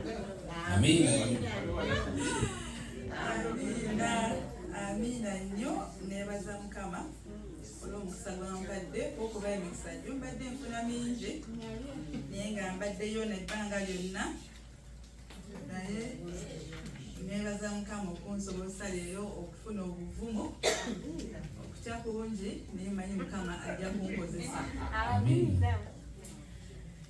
Amina. Amina. Amina nnyo nebaza Mukama olw'omukisa gwampadde okuba emikisa gyo mbadde nfuna mingi naye nga mbaddeyo nebbanga lyonna naye nebaza Mukama okunsobozesa leero okufuna obuvumo okutya kungi naye manyi Mukama ajja kunkozesa. Amina.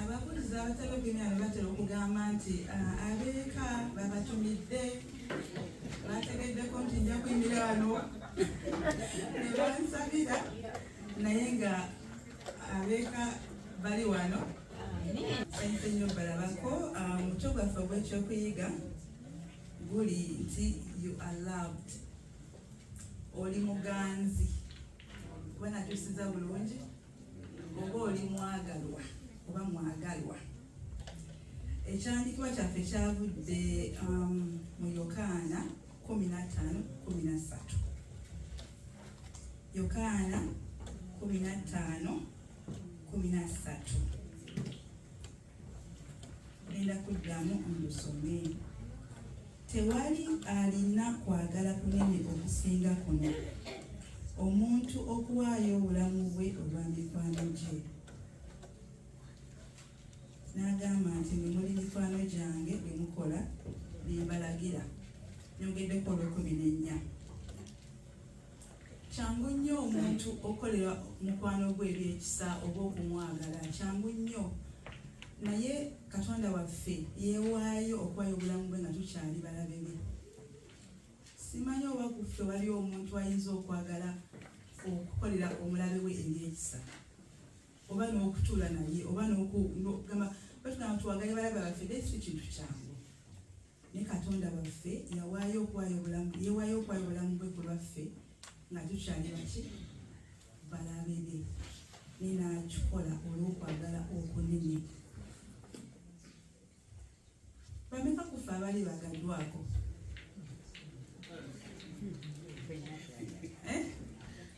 ababuulizi abatali ogenaano batera okugamba nti ah, abeeka babatumidde bategeddeko nti nja kuyimira wano nebansabira naye nga abeeka bali wano sente nyo balabako ah, muto gwaffe ogwekyokuyiga guli nti you are loved oli muganzi kuba nakyusiza bulungi oba oli mwagalwa oba mwagalwa ekyandikibwa kyaffe kyavudde um, mu yokaana 15:13 yokaana 15:13 Genda kuddamu olusome. Tewali alina kwagala kunene okusinga kuno, omuntu okuwaayo obulamu bwe olwa mikwano gye. N'agamba nti mwe muli mikwano gyange bwe mukola bye mbalagira. Nyogeddeko olw'ekkumi n'ennya. kyangu nnyo omuntu okolera mukwano gwe ebyekisa oba okumwagala kyangu nnyo naye katonda waffe yewaayo okuwayo obulamu bwe nga tukyali balabe be simanyi oba kuffe wali omuntu ayinza okwagala okukolera omulabe we ebyekisa oba n'okutuula naye oba nogamba batugamba tuwagale balabe baffe desi kintu kyangu ne katonda waffe yawaayo okwayo obulamu yewaayo okwayo obulamu bwe ku lwaffe nga tukyali baki balabe be ne n'akikola olw'okwagala okunene bameka kufe abali bagaddwako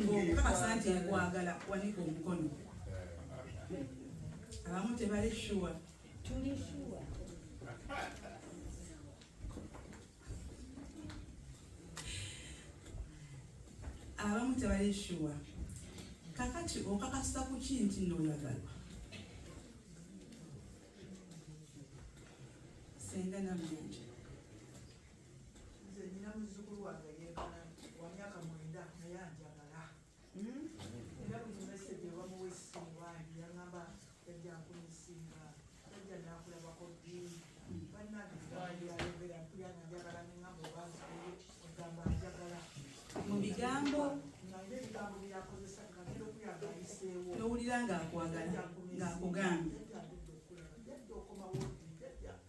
ng'okukakasa nti nkwagala wanika omukono abamu tebali shuwa tuli shuwa abamu tebali shuwa kakati okakasa ku ki nti nooyagalwa senga namuyanja nze nina muzukulu wange yekana wamyaka mwenda naye anjagala hmm? era buli meseje wamuwa essimu wangi yaŋamba yajjankunisinga yajja nakulabako ddi bannageayogera kuyana njagala neŋamba obazi ogamba anjagala mu bigambo naye ebigambo byakozesa ngagenda okuyaga ayiseewo nowulira ngaakwagala ngaakugambye yajja okukomawo ddi yajja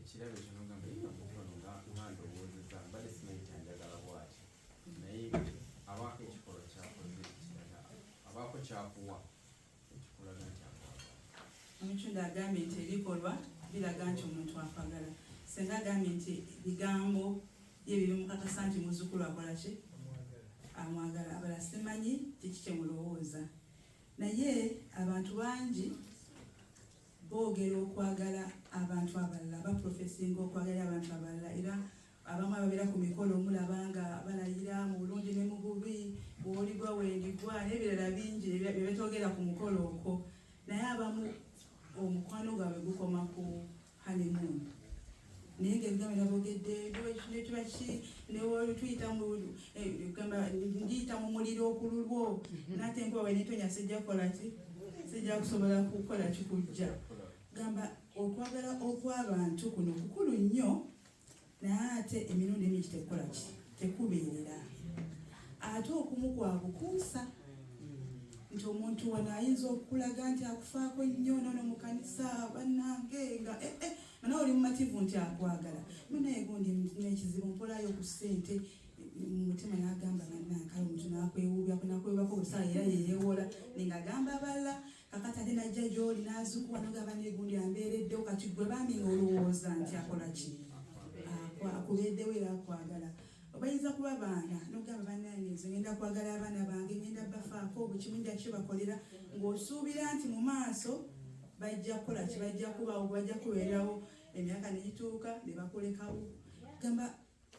ekirabo kino ngamba yina kukono nga nganda obuuziza mbadde simanyi kyanjagala bwati naye abaako ekikolo kyakoze kiraga abaako kyakuwa ekikulaga nti akwagala omucunda agambye nti ebikolwa biraga nti omuntu akwagala senga agambye nti bigambo ye bibimukakasa nti muzukulu akola ki amwagala abala simanyi kiki kyemulowooza naye abantu bangi boogera okwagala abantu abalala baprofesinga okwagala abantu abalala era abamu ababeera ku mikolo omulaba nga balayira mu bulungi ne mu bubi bwoligwa wendigwa n'ebirala bingi byebetogera ku mukolo okwo naye abamu omukwano gwabwe gukoma ku honeymoon naye nga ebigamba nabogedde nekiba ki netuyita gamba ndiyita mu muliro okululwo mhm. nate nkubawe netonya sijja kukola ki sijja kusobola kukola kikujja gamba okwagala okwabantu kuno kukulu nnyo naye ate emirundi mingi tekukola ki tekubeerera ate okumu kwa bukuusa nti omuntu wano ayinza okukulaga nti akufaako nnyo nono mu kanisa bannange nga eh, eh. Mana oli mumativu nti akwagala munaye gundi nekizibu mpolayo ku ssente mutima nagamba banakale omuntu nakwewubyako nakwewubako obusaa era yeyewola ninga agamba abala kakati ate najja gyoli nazukuwa nogamba negundi ambeereddewo kati gwe bambi nga olowooza nti akola ki akubeeddewo era akwagala obayinza kuba baana nogamba banange nze ngenda kwagala abaana bange ngenda bafaako bukimu nja kibakolera ng'osuubira nti mu maaso bajja kukola ki bajja kubawo bajja kubeerawo emyaka negituuka ne bakulekawo gamba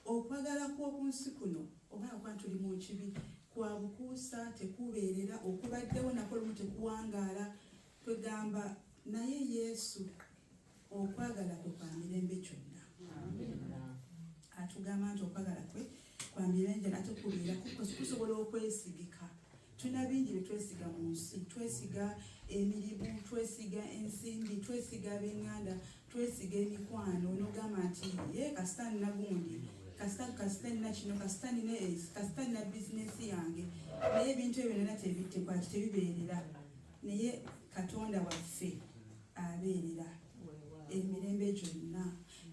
okwagala kw'oku nsi kuno oba akuba nti oli mu kibi kwa bukuusa tekubeerera okubaddewo nako lumu tekuwangaala kwegamba naye yesu okwagala kwe kwa mirembe kyonna atugamba nti okwagala kwe kwa mirembe nate kubeera kusobola okwesigika tulina bingi bye twesiga mu nsi twesiga emirimu twesiga ensimbi twesiga abenganda twesiga emikwano nogamba nti ye kasita nina gundi kasita kasita nina kino kasita nina esi kasita nina bizinesi yange naye ebintu ebyo nana tebitekwaki tebibeerera naye katonda waffe abeerera emirembe gyonna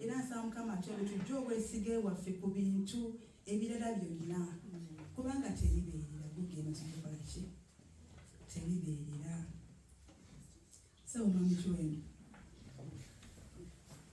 era nsaba mukama atebe tujje obwesige waffe ku bintu ebirala byonna kubanga tebibeerera gugenda kukola ki tebibeerera sawumamikiwendo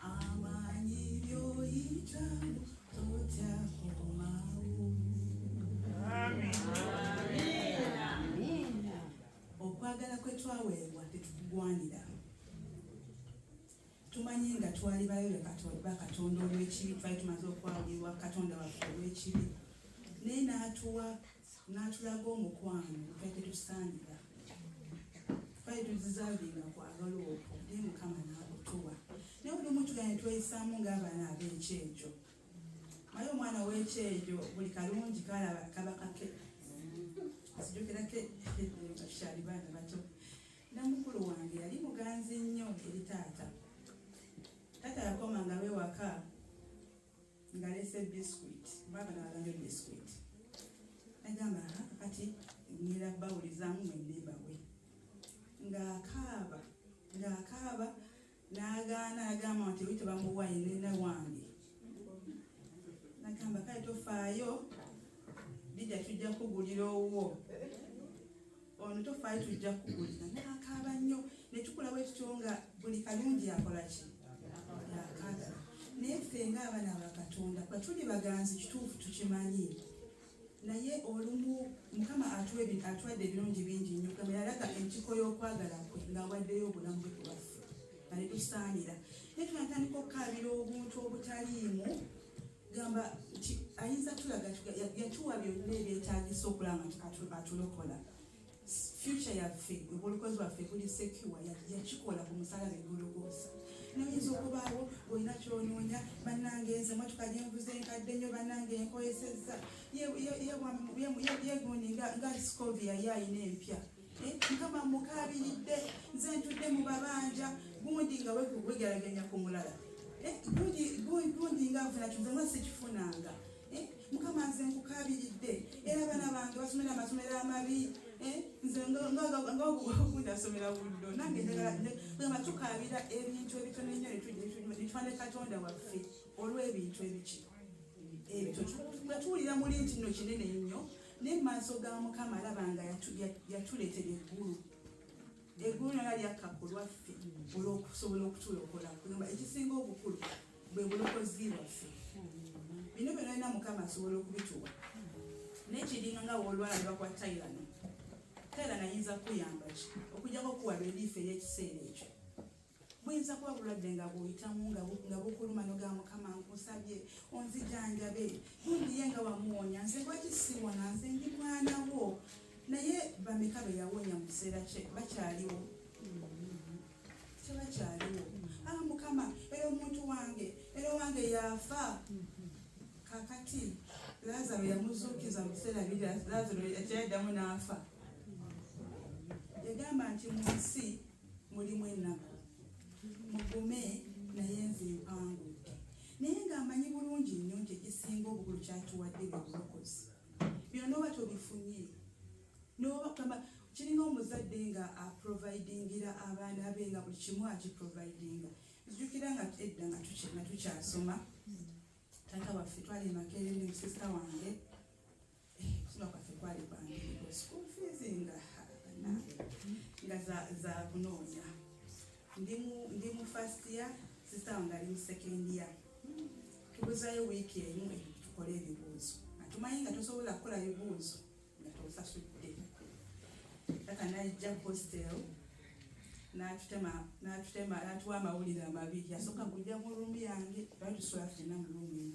Amanyi byoyitamu totya komawo. Okwagala kwe twaweebwa tetukugwanira. Tumanyi nga twali bayo ba Katonda olw'ekibi, twali tumaze okwawulirwa Katonda waffe olw'ekibi, naye n'atuwa n'atulaga omukwano gubadde tusaanira twali tuzizaalinga kwagala okwo naye mukama n'akutuwa naye olumu tugane tweyisaamu ng'abaana ab'ekyejo maye omwana w'ekyejo buli kalungi kalaba kaba kake sijukira ke kyali baana bato namukulu wange yali muganzi nnyo eri taata taata yakomanga lwewaka ngalese biscuit baba nalabe biscuit agamba kati ngira bawulizamu mwendebawe ng'akaaba ng'akaaba n'agaana agamba nti oli tebamuwaye nene wange nagamba kale tofaayo bijja tujja kugulira owuwo ono tofaayo tujja kuwulira nakaaba nnyo netukulawo ekityo nga buli kalungi akola ki yakala naye ffe nga abaana bakatonda batuli baganzi kituufu tukimanyi naye olumu mukama atwadde ebirungi bingi nnyo kama yalaga enkiko y'okwagala kwe ng'awaddeyo obulamu bwe kubaffe nga netusaanira naye tunatandika okukaabira obuntu obutaliimu gamba nti ayinza tulaga yatuwa byonna ebyetagisa okulaba nti atulokola future yaffe obulokozi bwaffe buli sekiwa yakikola ku musalaba egologoosa noyinza okubaawo olina kyonoonya banange nze motoka gyenvuze enkadde nyo banange enkoyesezza yegundi nga scovi yali alina empya Eh, mukama mukabiridde nze ntudde mu babanja gundi nga wegeraganya ku mulala eh, gundi nga nfuna kintu nga sikifunanga eh, mukama nze nkukabiridde era abaana bange basomera amasomero amabi nze ngagundasomera buddo nange gamba tukabira ebintu ebitono ennyo netufane katonda waffe olw'ebintu ebiki ebyo nga tuwulira muli nti no kinene nnyo ne maaso ga mukama alaba nga yatuletera eggulu eggulu nala lyakka ku lwaffe olwokusobola okutulokola kugamba ekisinga obukulu bwe bulokozi bwaffe bino byona lina mukama asobola okubituwa nekiringa nga wolwalaba kwa tairano tairano ayinza kukuyamba ki okujjako okuwa reliifu ey'ekiseera ekyo buyinza kuba bulwadde nga bwoyitamu nga bukuluma noga mukama nkusabye onzijanjabe bumbiye nga wamuwonya nze lwaki siwona nze ndi mwana wo naye bameka be yawonya mu kiseera kye bakyaliwo tebakyaliwo a ah, mukama era omuntu wange era owange yafa kakati lazaro yamuzuukiza mu kiseera biri lazaro kyayaddamu n'afa yagamba nti mu nsi mulimu ennaku mugume naye nze mpangudde naye ng'amanyi bulungi nnyo nti ekisinga obukulu kyatuwadde byobulokozi byonna oba tobifunye nobakama kiringa omuzadde nga aprovidingira abaana be nga buli kimu akiprovidinga nzijukira nga edda nga tukyasoma taata waffe twali makerere musista wange kuno kwaffe kwali kwangiriko school fees nga banange nga za kunoonya ndi mu first year sista wange ali mu second year tubuzayo wiiki emu tukole ebibuuzo atumanyi nga tosobola kukola bibuuzo nga tosasudde kaka najja hostel natutema natuwa amawulire amabi yasooka kujja mu rumu yange batusula fena mu rumu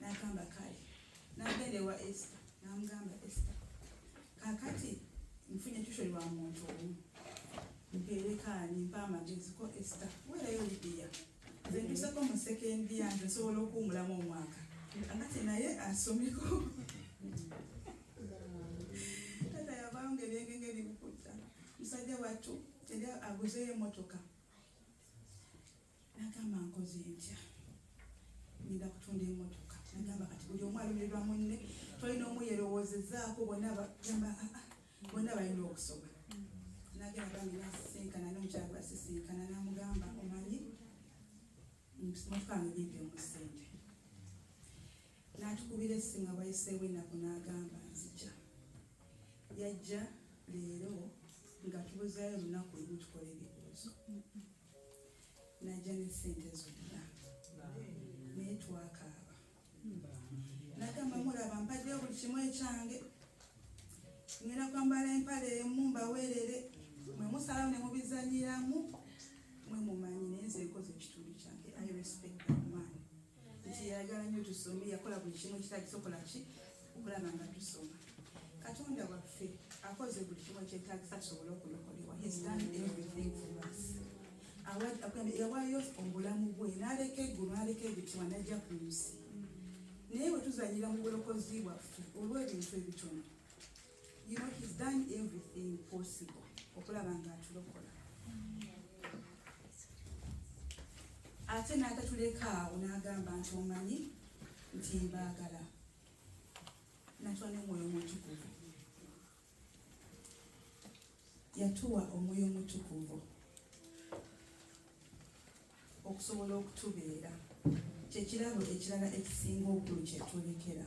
n'agamba kale n'agenda ewa esita n'amugamba esita kakati nfunye tusho lwa muntu omu mpeerekaani mpa amagezi ko esita weerayo libiya nze ntuseko mu sekendi yange nsobola okuwumulamu omwaka kakati naye asomeko tata yavanga ebyengenge ebimukutta musajja wattu era aguzeyo emotoka nagamba nkoze ntya ngenda kutunda emotoka nagamba kati buli omu alumirwa munne tolina omu yerowozezaako bona bagamba aa ah, ah, bona balina okusoma nagenda bambi nasisinkana nomukyala gwasisinkana namugamba omanyi mutukange bimbi omusente natukubira esimu abayiseewo enaku nagamba nzija yajja leero nga tubuzayo olunaku lumu tukola ebibuuzo najja ne sente zonna naye twakaaba nagamba mulaba mpaddeyo buli kimu ekyange ngenda kwambala empale emu mbaweerere mwe musalamu ne mubizanyiramu mwe mumanyi naye nze nkoze ekitundu kyange i respect that man nti yayagala nnyo tusome yakola buli kimu ekitagisokola ki okulaba nga tusoma katonda waffe akoze buli kimu ekyetagisa tusobole okulokolewa yawayo obulamu bwe naleka eggulu naleka ebitibwa najja ku nsi naye wetuzanyira mu bulokozi bwaffe olw'ebintu ebitono You know, he's done everything possible okulaba nga atulokola ate n'atatuleka awo n'agamba nti omanyi nti mbaagala natwa n'omwoyo omutukuvu yatuwa omwoyo omutukuvu okusobola okutubeera kyekirabo ekirala ekisinga obukulu kyetulekera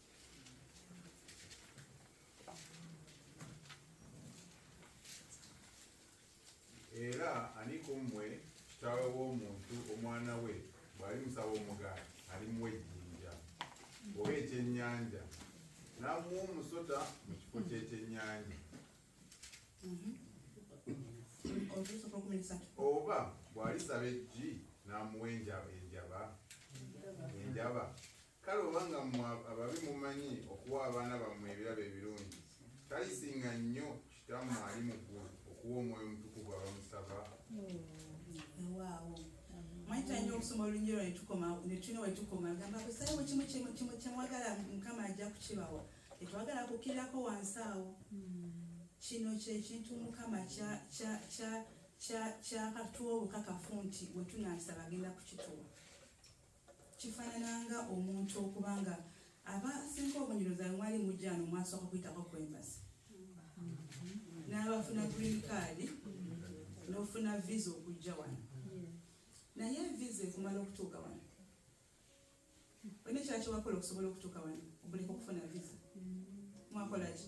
era ani ku mmwe kitaawe w'omuntu omwana we bw'ali musaba omugaati alimuwa ejjinja oba ekyennyanja n'amuwa omusota mu kifo ky'ekyennyanja mm-hmm. oba bw'alisaba eggi n'amuwa enjaba enjaba Kale obanga mmwe ababi mumanyi okuwa abaana bammwe ebirabo ebirungi, talisinga nnyo Kitammwe ali mu ggulu okuwa Omwoyo Omutukuvu abamusaba? mwajja nyo okusoma olulungi lwa netukoma netulina wetukoma gamba kusaye wekimu kimu kimu kyemwagala mukama ajja kukibawa tetwagala kukirirako wansi awo kino kyekintu mukama kyakatuwa obukakafu nti wetunasaba agenda kukituwa kifaanana nga omuntu okuba nga aba asinga obunyiro zawe mwali mujjano mwasooka kuyitako ku embasi n'abafuna green card n'ofuna visa okujja wano naye visa ekumala okutuuka wano olina ekira kyewakola okusobola okutuuka wano obuleka okufuna visa mwakolaki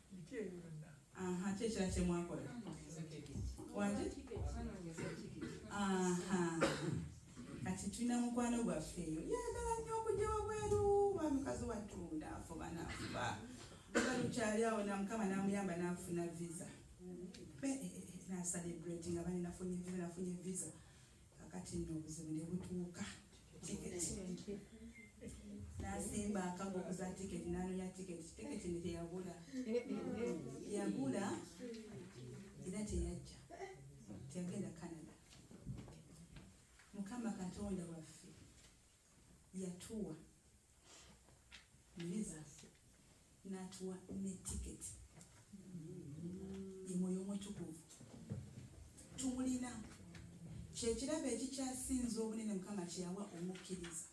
Biki ebyo byonna? Aha, ki ekira kye mwakola? Waki? Aha. Kati tulina mukwano gwaffe eyo. Yagala nnyo okujja wabweru wa mukazi wattu ndaafuba naafuba. Nga lukyali awo na mukama n'amuyamba n'afuna visa. Be, eh, eh, eh, na celebrate nga bali nafunye visa nafunye visa. kakati nno obuzibu ne butuuka tiketi nasimba akago okuza tiketi nanonya tiketi tiketi ne teyagula yagula era teyajja teyagenda canada mukama katonda waffe yatuwa naye zaffe natuwa ne tiketi emwoyo omutukuvu tumulina kyekirabo ekikyasinza obunene mukama kyeyawa omukkiriza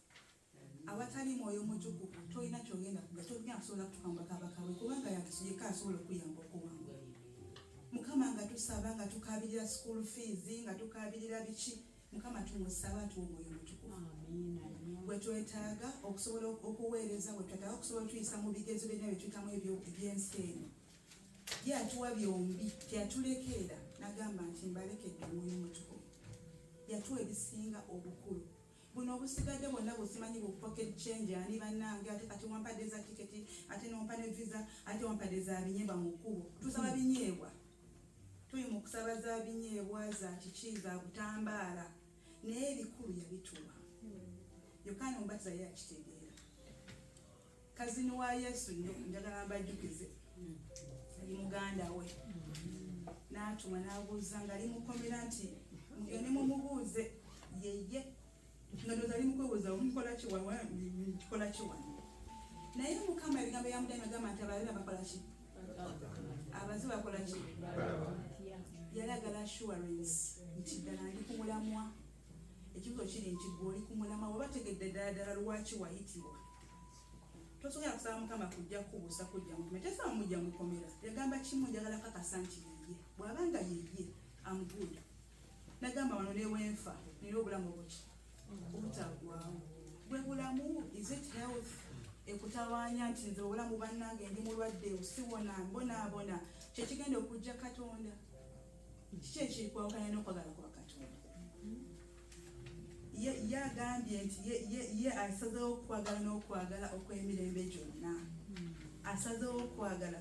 awatali mwoyo omutukuvu tolina kyogenda kuga tolina kusobola kutuka mubakabakawe kubanga yeka asobola okuyamba okuwanga mukama nga tusaba nga tukabirira school fees nga tukabirira biki mukama tumusaba tuwa omwoyo mutukuvu wetwetaaga okusobola okuweereza wetwetaaga okusobola otuyisa mu bigezo byonna byetuyitamu ebyensi eno ye atuwa byombi teyatulekeera nagamba nti mbalekedde omwoyo mutukuvu yatuwa ebisinga obukulu buno obusigadde bwonna busimanyi bu pocket change ani bannange ate kati wampadde za tiketi ate nompa ne visa ate wampadde za binyeebwa mu kkubo tusaba binyeebwa Tuli mu kusaba za binyeebwa za kiki za butambaala naye ebikulu yabituwa. Yokaana omubatiza ye yakitegeera. Kazini wa Yesu nnyo njagala mbajjukize ali muganda we n'atuma n'abuuza ng'ali mukomera nti mugende mumubuuze yeye nga ndoza ali mukwebuza mukola ki wawa mukola ki wano naye mukama ebigambo ya mudani agamba nti ababi abakola ki abazi bakola ki yalagala assurance nti ddala ndi ku mulamwa ekibuzo kiri nti gwe oli ku mulamwa waba tegedde ddala ddala lwaki wayitibwa tosobola kusaba mukama kujja kubuusa kujja mukume tefa mujja mukomera yagamba kimu njagala kakasa nti yeye bwaba nga yeye amguda nagamba wano newenfa nina obulamu obuki obutagwawo bwe bulamu is it health ekutawanya nti nze obulamu bannange ndi mulwadde siwona mbonaabona kyekigenda okujja katonda kiki ekikwawukanya n'okwagala kwa katonda ye agambye nti ye asazewo okwagala n'okwagala okw'emirembe gyonna asazewo okwagala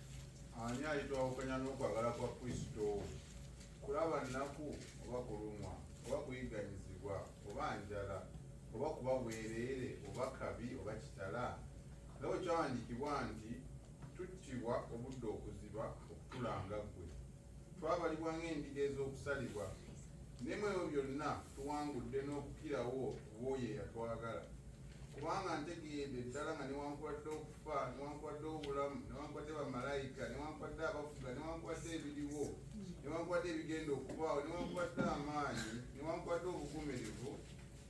Ani alitwawukanya n'okwagala kwa Kristo? Kulaba nnaku, oba kulumwa, oba kuyigganyizibwa, oba njala, oba kuba bwereere, oba kabi, oba kitala? Nga bwe kyawandiikibwa nti, Tuttibwa obudde okuziba, okutulanga ggwe. Twabalibwa ng'endiga ez'okusalibwa, ne mu ebyo byonna tuwangudde n'okukirawo ku b'oyo eyatwagala. Kubanga ntegeedde ddala nga newankubadde okufa, newankubadde obulamu, newankubadde bamalayika, newankubadde abafuga, newankubadde ebiriwo, newankubadde ebigenda okubaawo, newankubadde amaanyi, newankubadde obugumirivu,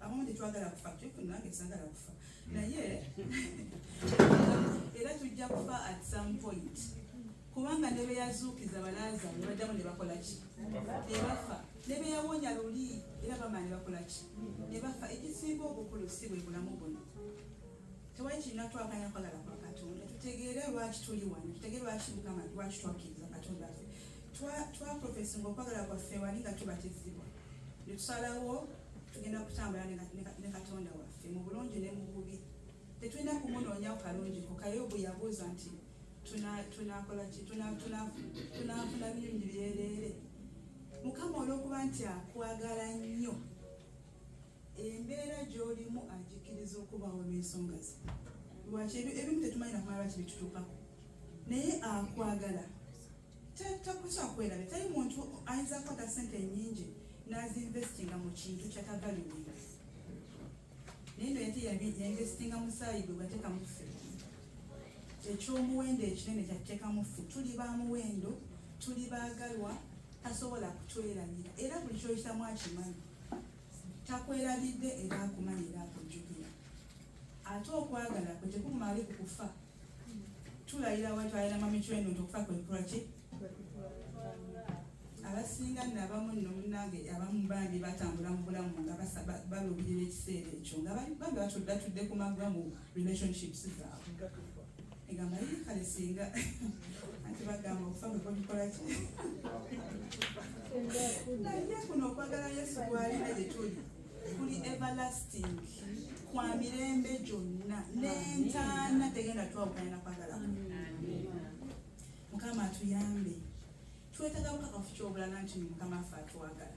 abamu tetwagala kufa nange sagala kufa naye era tujja kufa at some point kubanga ne beyazuukiza balaaza ne baddamu ne bakola ki ne bafa ne beyawonya luli era bama ne bakola ki ne bafa ekisinga obukulu si bwe bulamu buno tewali kirina twaganya kwagala kwa katonda tutegeere lwaki tuli wano tutegeere lwaki mukama lwaki twakkiriza katonda ffe twaprofesinga okwagala kwaffe wali nga tubatizibwa ne tusalawo tugenda kutambula ne katonda waffe mu bulungi ne mu bubi tetulina kumunoonyawo kalungi ko kayobu yabuuza nti tunakola ki tunafuna birungi byereere mukama olwokuba nti akwagala nnyo embeera gy'olimu agikiriza okubaawo olw'ensonga ze lwaki ebimu tetumanyi nakumala lwaki bitutuukako naye akwagala takukyakwerabya tali muntu ayinza kukwata sente nyingi nazinvestinga mu kintu kyatavaliwinga naye no yate yainvestinga musaayi gwe bateeka muffe ekyomuwendo ekinene kyateeka muffe tuli ba muwendo tuli baagalwa tasobola kutwerabira era buli kyoyitamu akimanyi Takwerabidde era akumanyi era akujjukira. Ate okwagala kwe tekumaali ku kufa. Tulayira wali twalina mami chwenu nti okufa kwe kukola ki? abasinga nno abamu nno munnange abamu bambi batambula mu bulamu nga baluubirira ekiseera ekyo nga bambi batudde ku magwa mu relationships zaabwe egamba ye kale singa anti bagamba okufa nga kwagikola ki naye kuno okwagala yesu kwalina gye tuli kuli everlasting kwa mirembe gyonna n'entaana tegenda twawukanya nakwagala mukama atuyambe twetaga bukakafu kyobulala nti mukama afe atwagala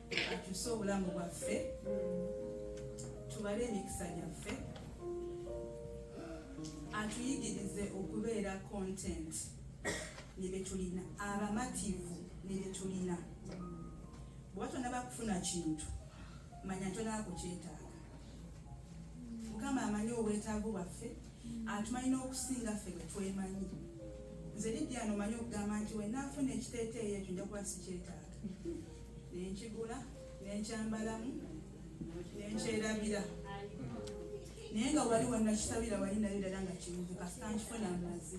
akyuse obulamu bwaffe tubale emikisa gyaffe atuyigirize okubeera content nebyetulina abamativu nebyetulina bwoba tonaba kufuna kintu manya tonaba kukyetaaga mukama amanyi obwetaavu bwaffe atumanyi n'okusinga ffe bwetwemanyi nze lidyano manyi okugamba nti wenafuna ekiteeteeyo ekyo njakuba sikyetaaga ne nkigula ne nkyambalamu ne nkyerabira naye nga wali wanakisabira wali nayo ddala nga kibuzi kasita nkifuna amazi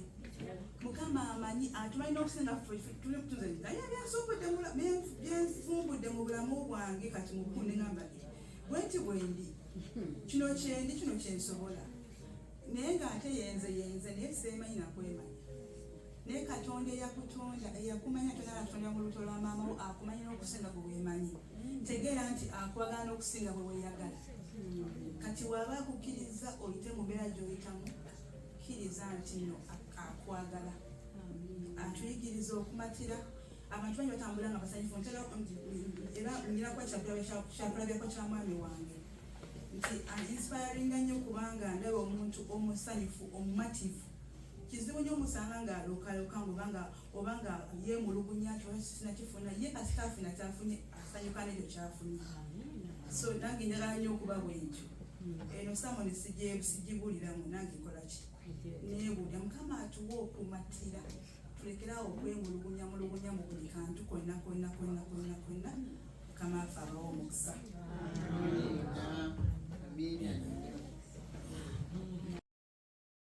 mukama amanyi atumanyi n'okusinga tuze naye byensumbudde mu bulamu bwange kati mubukunde ngamba bwenti bwendi kino kyendi kino kyensobola naye ng'ate yenze yenze naye seemanyi nakwemanya naye katonda eyakutonda eyakumanya kyona nakutonda mu lubuto lwa maama wo akumanyi n'okusinga bwe weemanyi tegeera nti akwagala n'okusinga bwe weeyagala kati waaba akukkiriza oyite mu mbeera gy'oyitamu kkiriza nti no akwagala atuyigiriza okumatira abantu bangi batambula nga basanyufu ntera era ngira kuba kyakulabirako kya mwami wange nti inspiringa nnyo kubanga ndaba omuntu omusanyufu omumativu kizibu nyo musanga nga lokaloka ngobanga obanga ye mulugunya kyosina kifuna ye kasita afuna kyafunye asanyuka nekyo kyafunye so nange njagala nyo okuba bwentyo eno samoni sijibuliramu nange nkolaki nebulya mukama atuwa okumatira tulekerawo okwemulugunya mulugunya mu buli kantu konna konna konna konna konna mukama afe abawo omukisa Amen.